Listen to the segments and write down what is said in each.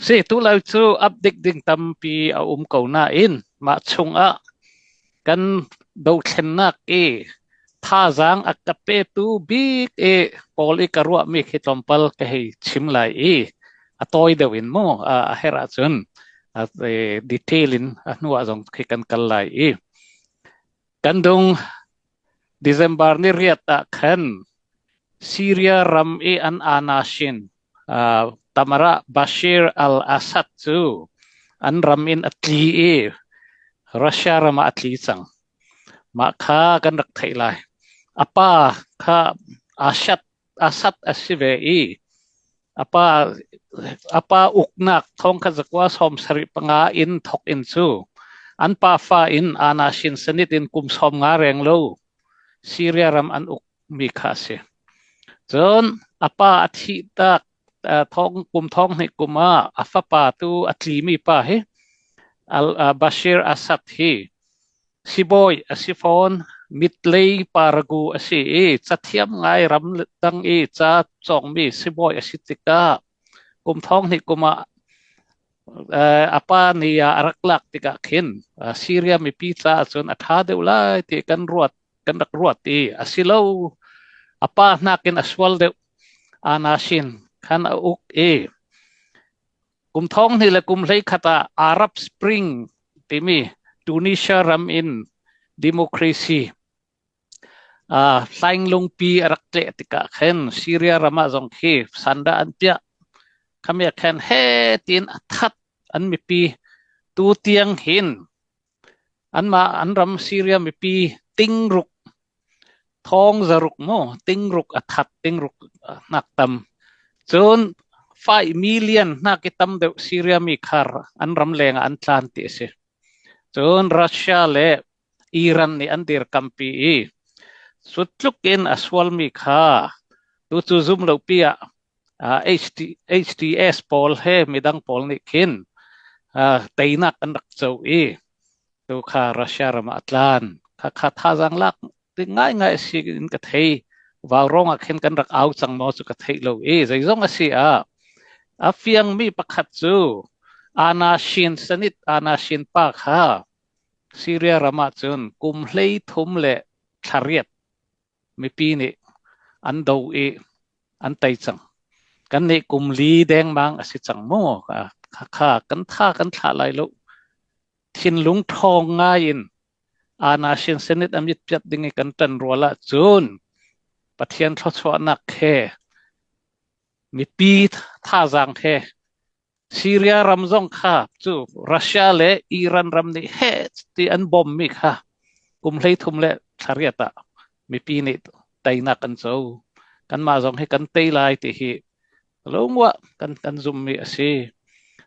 Sehtu lo cu update ding tampi a um ko nain mah chungah kan dothlennak i thazaang a ka petu bik i Paul i ka ruahmi khi tlawmpal ka hei chim lai i a tawi deuh in mu a herh ahcun detail in a hnuah zong khi kan kal lai i Kan dong December ni riat ah khan Syria ram i an anasin uh, Tamara Bashir al-Assad cu an ram in a tli i Russia ram ah a tli cang. Mah kha kan rak theih lai. A pa kha Assad A sat a si ve i a pa uknak thawngkha zakua sawm sarih panga in thawk in cu an pafa in Ana Shin Sanit in kum sawm nga reng lo Syria ram an ukmi kha a si. Cun a pa a thih tak thong kum thong hnih kum ah a fapa tu a tlimi pa hi Bashir Assad hi Sibawi a si fawn. Mit lei paragu a si i cathiam ngai ramdang i ca cawngmi sibawi a si tikah kum thong hnih kum ah eh, a pa ni ah a rak lak tikah khin uh, Syria mipi caah cun a ṭha deuh lai ti kan ruat kan rak ruat i a si lo a pa hnakin a sual deuh anasin khan a uk i Kum thonghnih le kum hleikhat ah Arab Spring timi Tunisia ram in democracy uh, tlainglungpi a rak tleh tikah khin Syria ram ah zong khi sandah an piah khamia khan he tiin a that an mipi tu tiang hin Anmah an ram Syria mipi tingruk, thawng zaruk maw tingruk a that tingruk hnak tam, cun faih million hnak i tam deuh Syria mi khar an ram leng ah an tlan ti a si. Cun Russia le Iran nih an dirkampi i, sut tluk in a sualmi kha tucu zum lopi ah HTS pawl he midang pawl nih khin teinak an rak co i tu kha Russia ram ah a tlan. Khakha thazaang lak ding ngaingai a si in ka thei. Vaurong ah khin kan rak au cang maw cu ka theih lo i zeizong a si ah a fiang mi pakhat cu Anna Shin Sanit Anna Shin pa kha Syria ram ah cun kum hlei thum le thlariat Mipi nih an do i an tei cang. Kannih kum li dengmang a si cang maw? Khakha, kan tha kan thlah lai lo. Thinlung ṭhawng ngai in Anna Shin Senate a mit piat ding i kan ṭan rual ahcun Pathian thluachuahnak he mipi thazaang he Syria ram zong kha cu Russia le Iran ram nih heh ti an bawmmi kha kum hleithum le thlariat ah mipi nih teinak an co. Kanmah zong hi kan tei lai ti hi lungwah kan, kan zummi a si.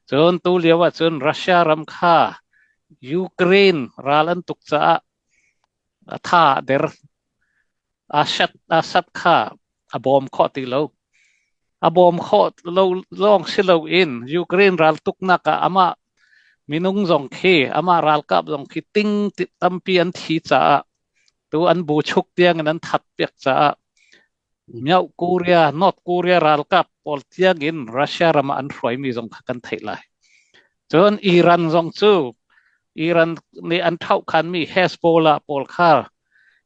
Cun tu lio ahcun Russia ram kha Ukraine ral an tuk caah A tha a der. Asat kha a bawm khawh ti lo. A bawm khawh lo lawng si loin Ukraine raltuknak ah amah minung zong khi, amah ralkap zong khi ting tampi an thi caah, tu an buchuk tiang in an that piak caah, Myanmar, Korea, North Korea ralkap pawl tiangin Russia ram ah an hruaimi zong kha kan theih lai. Cun Iran zong cu Iran nih an thohkhanmi Hezbollah pawl kha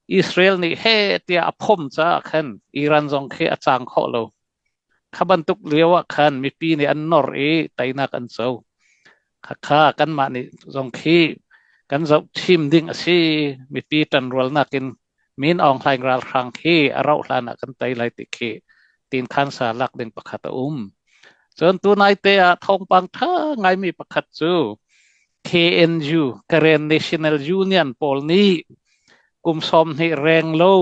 Israel nih he tiah a phom caah khan Iran zong khi a cang khawh lo. Kha bantuk lio ah khan mipi nih an nor i teinak an co. Khakha kanmah nih zong khi kan zoh thim ding a si. Mipi ṭanrualnak in Min Aung Hlaing ralhrang khi a rauh hlan ah kan tei lai ti khi tinthan sa lak ding pakhat a um. Cun tunai te ah thawngpang ṭha ngaimi pakhat cu KNU, Karen National Union pawl nih kum sawmhnih reng lo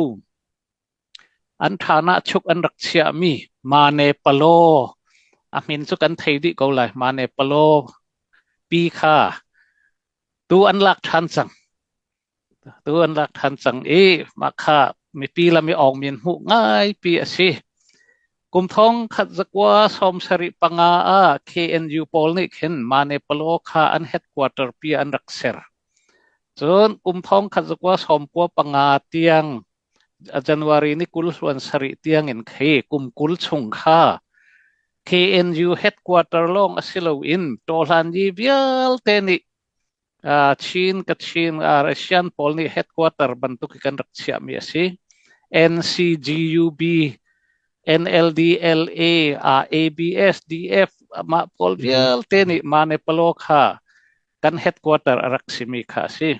an ṭhanak chuk an rak chiahmi Mane Palaw a min cu kan thei dih ko lai Mane Palaw pi kha tu an lak ṭhan cang. Tu an rak ṭhan cang i mah kha mipi lam i awngmi an hmuh ngaipi a si. Kum thong khat zakua sawm sarih panga ah KNU pawl nih khin Mane-Palaw kha an headquarter pi ah an rak ser. Cun kum thong khat zakua sawmkua panga tiang January ni kul hluan sarih tiangin khi kum kul chung kha KNU headquarter lawng a si loin Ṭawhlanyi vialte nih Chin, Kachin, Asian pawl nih headquarter bantuk hi kan rak chiahmi a si. NCGUB, NLDLA, ah ABS, DF, mah pawl vialte nih mah ne Palaw kha kan headquarter a rak simi kha a si.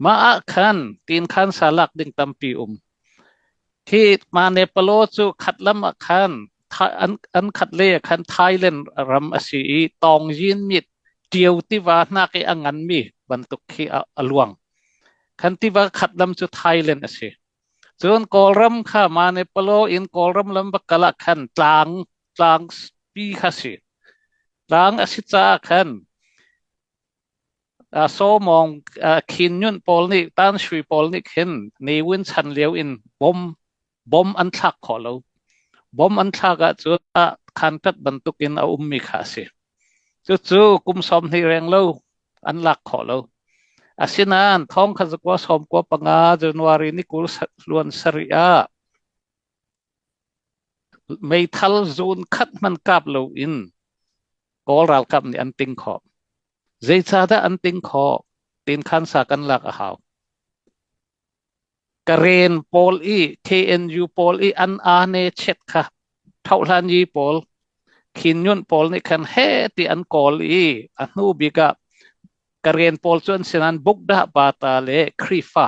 Mah ah khan tinkhan sa lak ding tampi um. Hi ma Nepalo cu khat lam ah khan an khat le khan Thailand ram a si i tawngyin mit ṭio tiva hnak i a nganmi bantuk khi a luang. Khan tiva khat lam cu Thailand a si. Cun Kawlram kha ma Nepalo in Kawlram lam bakal ah khan tlang tlang pi kha si. Tlang a si caah khan Sawmawng khin nyunh pawl nih tanhri pawl nih khin ni win chan lio in bom an thlak khawh lo. Bom an thlak ahcun khanpet bantuk in a ummi kha a si. Cucu kum sawm hnih reng lo an lak khawh lo. Asinain thong kha zakua sawm kua panga January ni kul hluan sarih ah Meithal zawn khat hmanh kap loin Kawl ralkap nih an ting khawh. Zeicahdah an ting khawh? Tiin khansa kan lak a hau. Karen pawl i KNU pawl i an ane chet kha thohlanyi pawl khinnyunh pawl nih khan he ti an kawl i a hnu bik ah Karen pawl cu an si nain Bukdah Bata le Khrihfa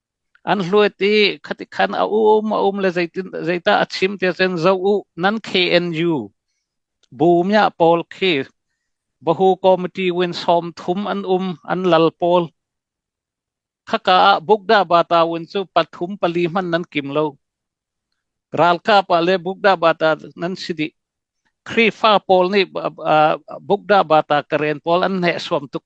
An hluat i khatikhan a um a um le zeitah a chim tiah cun zoh u nan KNU bumya pawl khi bahu committee win sawm thum an um an lal pawl khaka ah bukda bata win cu pathum pali hman nan kim lo ralkap ah le bukda bata nan si dih Khrihfa pawl nih bukda bata karen pawl an hneh suam tuk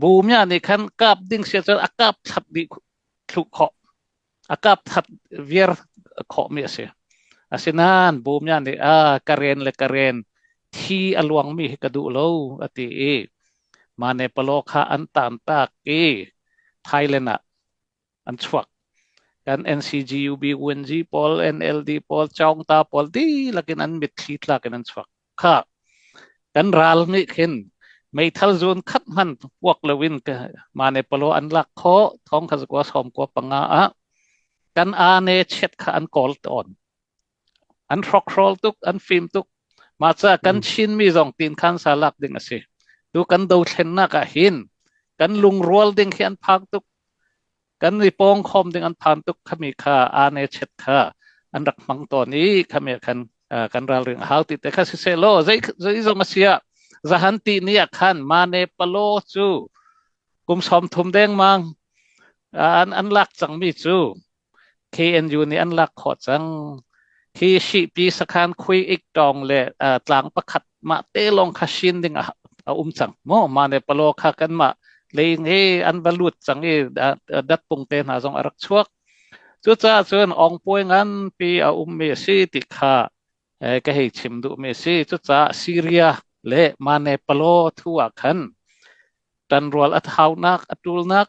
Bumia nih khan kap ding si cun a kap thlap mi thluh khawh, a kap that viar khawh mi a si. Asinain bumia nih a ka ren le ka ren thi a luang mi hi ka duh lo a ti i mah ne palaw kha an taan taak i Thailand ah an chuak kan NCG UB UNG pawl NLD pawl Chawngta pawl dihlak in an mitthli tlak in an chuak kha kan ral nih khin meithal zun khat hman puak loin mane palo an lak kho thong kha kwa som kwa panga a kan ane chet kha an kol ton An hrokhrawl tuk, an fim tuk. Mahca kan Chinmi zong tinkhan sa lak ding a si. Tu kan dothlennak ah hin kan lungrual ding hi an phang tuk. Kan i pawngkhawm ding an phan tuk khami kha ane chet kha an rak hmang tawn i khami ah khan uh, kan ralring a hau ti te kha siseh law zei zei zong a sia zahan ti ni ah khan mane palo cu kum sawm thum dengmang uh, an an lak cangmi cu KNU nih an lak khawh cang. Hi Shihpi sakhan khui ik tawng le uh, tlang pakhat mah te lawng kha sin ding a, a um cang. Mo ma ne palo kha kan ma leing he an va lut cang i dat pung te hna zong a rak chuak. Cucaah cun ong poi ngan pi a um mi si ti kha eh, ka hei chim duh mi si. Cucaah Syria le ma ne palo thu ah khan tan rual at haunak atul nak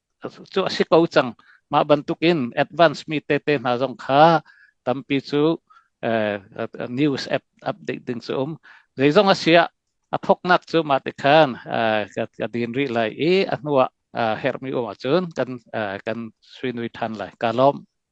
cu a si ko cang. Mah bantukin advanced mi tete hna zong kha tampi cu news app update ding cu um. Zeizong a si ah a thoknak cu mah ti khan ka din rih lai i a hnu ah herhmi um ahcun kan kan suinui ṭhan lai. Kaa lawm.